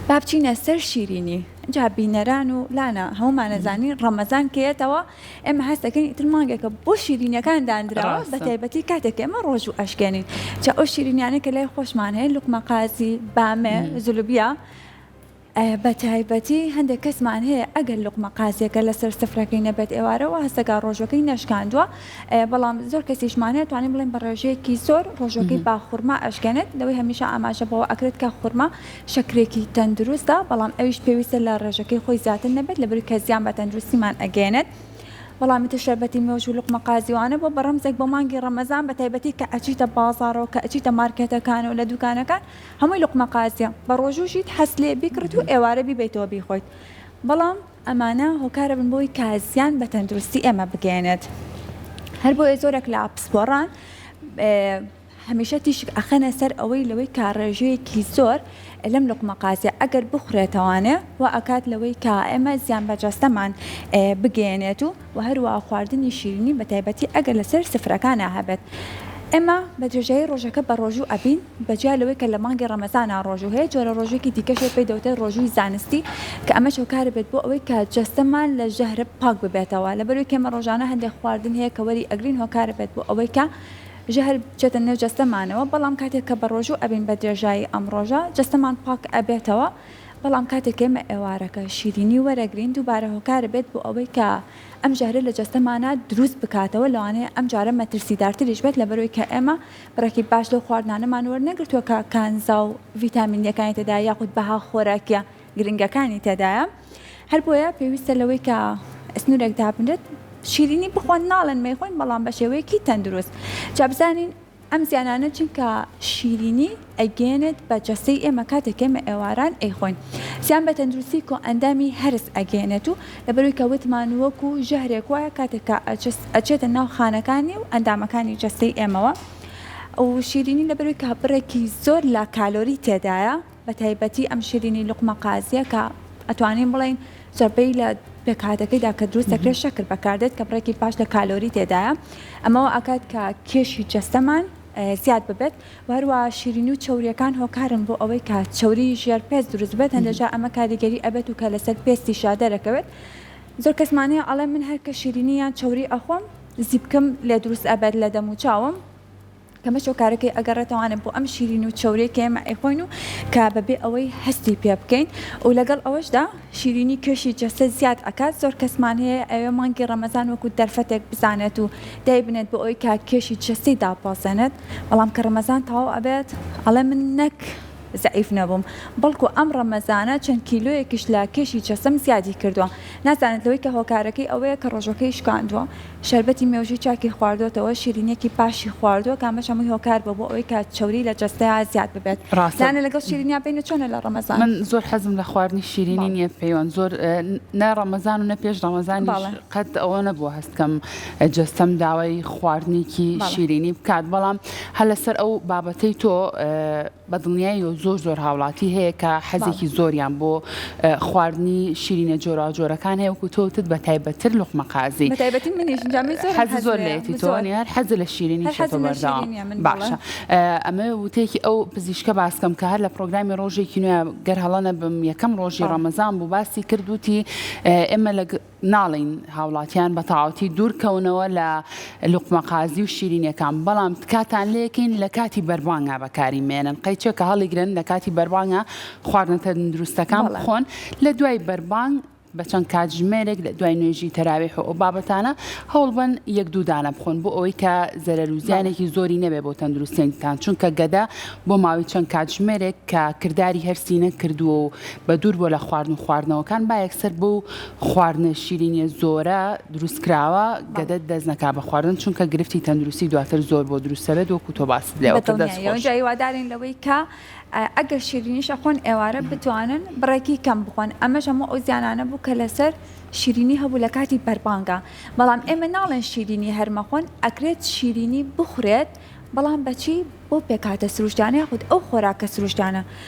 با بچینە سەر شیرینی جا بینەران و لانا هەمومان ئەزانین ڕەمەزان کە یەتەوە ئێمە هەست دەکەین ئیتر مانگێکە بۆ شیرینیەکان دانراوە بە ڕاستە. تایبەتی کاتێک کە ئێمە ڕۆژوو ئەشکێنین جا ئەو شیرینیانە کە لای خۆشمان هەیە لوقمە قازی بامێ زلوبیا ئە، بە تایبەتی هەندێک کەسمان هەیە ئەگەر لوقمە قازیەکە لەسەر سفرەکەی نەبێت ئێوارە وا هەست دەکا ڕۆژوەکەی نەشکاندووە ئە، بەڵام زۆر کەسیشمان هەیە توانین بڵێین بە ڕێژەیەکی زۆر ڕۆژوەکەی با خورما ئەشکێنێت لەوەی هەمیشە ئاماژە بەوە ئەکرێت کە خورما شەکرێکی تەندروستە بەڵام ئەویش پێویستە لە ڕێژەکەی خۆی زیاتر نەبێت لەبری کە زیان بە تەندروستیمان ئەگەێنێت بەڵامی تر شەربەتی مێوژ و لقمە قازیوانە بۆ بەڕەمزێک بۆ مانگی ڕەمەزان بە تایبەتی کە ئەچیتە بازارەوە کە ئەچیتە مارکێتەکان و لە دوکانەکان هەمووی لقمە قازیە بە ڕۆژووژیت حەست لێ بیکڕیت و ئێوارە بیبەیتەوە بیخۆیت بەڵام ئەمانە هۆکارەبن بۆی کە زیان بە تەندروستی ئێمە بگەێنێت هەر بۆیە زۆرێک لە پسپۆڕان هەمیشە تیشک ئەخەنە سەر ئەوەی لەوەی کە ڕێژەیەکی زۆر لەم لوقمە قازیە ئەگەر بخورێتەوانێ وا ئەکات لەوەی کە ئێمە زیان بە جەستەمان بگەیەنێت و وە هەروا خواردنی شیرینی بە تایبەتی ئەگەر لەسەر سفرەکانا هەبێت ئێمە بە درێژایی ڕۆژەکە بە ڕۆژوو ئەبین بە جیا لەوەی کە لە مانگی ڕەمەزانا ڕۆژوو هەیە جۆرە ڕۆژوویەکی دیکەش هەیە پێی دەوترێت ڕۆژووی زانستی کە ئەمەش هۆکار بێت بۆ ئەوەی کە جەستەمان لە ژەهرە پاک ببێتەوە لەبەروەی کە ئێمە ڕۆژانە هەندێک خواردن هەیە کە وەری ئەگرین هۆکار بێت بۆ ئەوەی کە ژەهر بچێتە نێو جەستەمانەوە بەڵام کاتێک کە بەڕۆژوو ئەبین بە درێژایی ئەم ڕۆژە جەستەمان پاک ئەبێتەوە بەڵام کاتێک ئێمە ئێوارەکە شیرینی وەرەگرین دووبارە هۆکارەبێت بۆ ئەوەی کە ئەم ژەهرە لە جەستەمانا دروست بکاتەوە لەوانەیە ئەم جارە مەترسیدارتریش بێت لەبەرەوەی کە ئێمە بڕێکی باش لەو خواردنانەمان وەرنەگرتووە کە کانزا و ڤیتامینیەکانی تێدایە یاخود بەها خۆراکیە گرنگەکانی تێدایە هەر بۆیە پێویستە لەوەی کە سنوورێک دابنرێت شیرینی بخۆن ناڵێن مەیخۆین بەڵام بە شێوەیەکی تەندروست جا بزانین ئەم زیانانە چونکە شیرینی ئەگەێنێت بە جەستەی ئێمە کاتێک ئێمە ئێواران ئەیخۆین زیان بە تەندروستی کۆ ئەندامی هەرس ئەگەێنێت و لەبەروی کە وتمان وەک و ژەهرێک وایە کاتێککە ئەچێتە ناو خانەکانی و ئەندامەکانی جەستەی ئێمەوە و شیرینی لەبەروی کە بڕێکی زۆر لە کالۆری تێدایە بەتایبەتی ئەم شیرینی لوقمە قازیە کە ئەتوانین بڵێین زۆربەی لە پێکهاتەکەیدا کە دروست دەکرێت شەکر بەکاردێت کە بڕێکی باش لە کالۆری تێدایە ئەمەوە ئاکات کە کێشی جەستەمان زیاد ببێت وەروە شیرین و چوریەکان هۆکارن بۆ ئەوەی کە چوری ژێر پێست دروست بێت هەندێکجا ئەمە کاریگەری ئەبێت و کە لەسەر پێستی شادەرەکەوێت زۆر کەسمانەیە ئەڵێ من هەر کە شیرینی یان چوری ئەخۆم زیبکم لێ دروست ئەبێت لە دەم و چاوم کە مەچ و کارەکەی ئەگەڕێتەوانێ بۆ ئەم شیرین و چەورەی کە ئێمە ئەیخۆین و کە بەبێ ئەوەی هەستی پێ بکەین و لەگەڵ ئەوەشدا شیرینی کێشی جەستە زیاد ئەکات زۆر کەسمان هەیە ئەوێ مانگی ڕەمەزان وەکو دەرفەتێک بزانێت و دایبنێت بۆ ئەوەی کە کێشی جەستەی داببەزێنێت بەڵام کە ڕەمەزان تەواو ئەبێت ئەڵێ من نەک زەعیف نەبووم بەڵکو ئەم ڕەمەزانە چەند کیلۆیەکیش لە کێشی جەستەم زیادی کردووە نازانێت لەوەی کە هۆکارەکەی ئەوەیە کە ڕۆژەکەی شکاندووە شەربەتی مێوژووی چاکی خواردۆتەوە، شیرینییەکی پاشی خواردووە، کە ئەمەش هەمووی هۆکار بووە بۆ ئەوەی کە چەوری لە جەستەیا زیاد ببێت. ڕاستە. لایەنە لەگەڵ شیرینیا بین و چۆنە لە ڕەمەزان؟ من زۆر حەزم لە خواردنی شیرینی بەڵێ. نییە پێیوان زۆر نە ڕەمەزان و نە پێش ڕەمەزانیش بەڵێ. قەت ئەوە نەبووە هەست بکەم جەستەم داوای خواردنێکی بەڵێ. شیرینی بکات، بەڵام هەر لەسەر ئەو بابەتەی تۆ بەدڵنیایەوە و زۆر زۆر هاوڵاتی هەیە کە حەزێکی زۆریان بۆ خواردنی شیرینە جۆراوجۆرەکان هەیە وەکو تۆ وتت بە تایبەتتر لوقمە قازی بەتایبەتی منیش جامی زۆر حەزی زۆر لێتی تۆ زۆر هەر حەز لە شیرینی هەر چێتۆ حەزم لە بەردەوام شیرینیە من بەڵێ باشە ئە، ئەمە وتەیەکی ئەو پزیشکە باس بکەم کە هەر لە پرۆگرامی ڕۆژێکی نوێ گەر هەڵە نەبم یەکەم ڕۆژی بەڵێ ڕەمەزان بوو باسی کرد وتی ئێمە لە ناڵێین هاوڵاتیان بە تەاوتی دوور کەونەوە لە لوقمە قازی و شیرینەکان بەڵام تکاتان لێکەین لە کاتی بەربانگا بەکاری مێنن قەیچەکە هەڵیگرن لە کاتی بەربانگا خواردنە تەندروستەکان بخۆن لە دوای بەربانگ بە چەند کاتژمێرێک لە دوای نوێژی تەراویح و ئەو بابەتانە هەوڵبن یەک دوودانە بخۆن بۆ ئەوەی کە زەرەر و زیانێکی زۆری نەبێ بۆ تەندروستێنتان چونکە گەدە بۆ ماوەی چەند کاتژمێرێک کە کردداری هەرسینە کردووە و بە دوور بۆ لە خواردن و خواردنەوەکان با یەکسەر بوو خواردنە شیرینیە زۆرە دروست کراوە گەدەت دەست نەکا بە خواردن چونکە گرفتی تەندروستی دواتر زۆر بۆ دروست سەبێت وەکو تۆ باست لێوە کە دەست خۆش. جا هیوادارین لەوەی کە ئەگەر شیرینیش ئەخۆن ئێوارە بتوانن بڕێکی کەم بخۆن ئەمەش هەموو ئەو زیانانە بوو کە لەسەر شیرینی هەبوو لە کاتی بەربانگا بەڵام ئێمە ناڵێن شیرینی هەر مەخۆن ئەکرێت شیرینی بخورێت بەڵام بەچی بەو پێکهاتە سروشتیانە یاخود ئەو خۆراکە سروشتیانە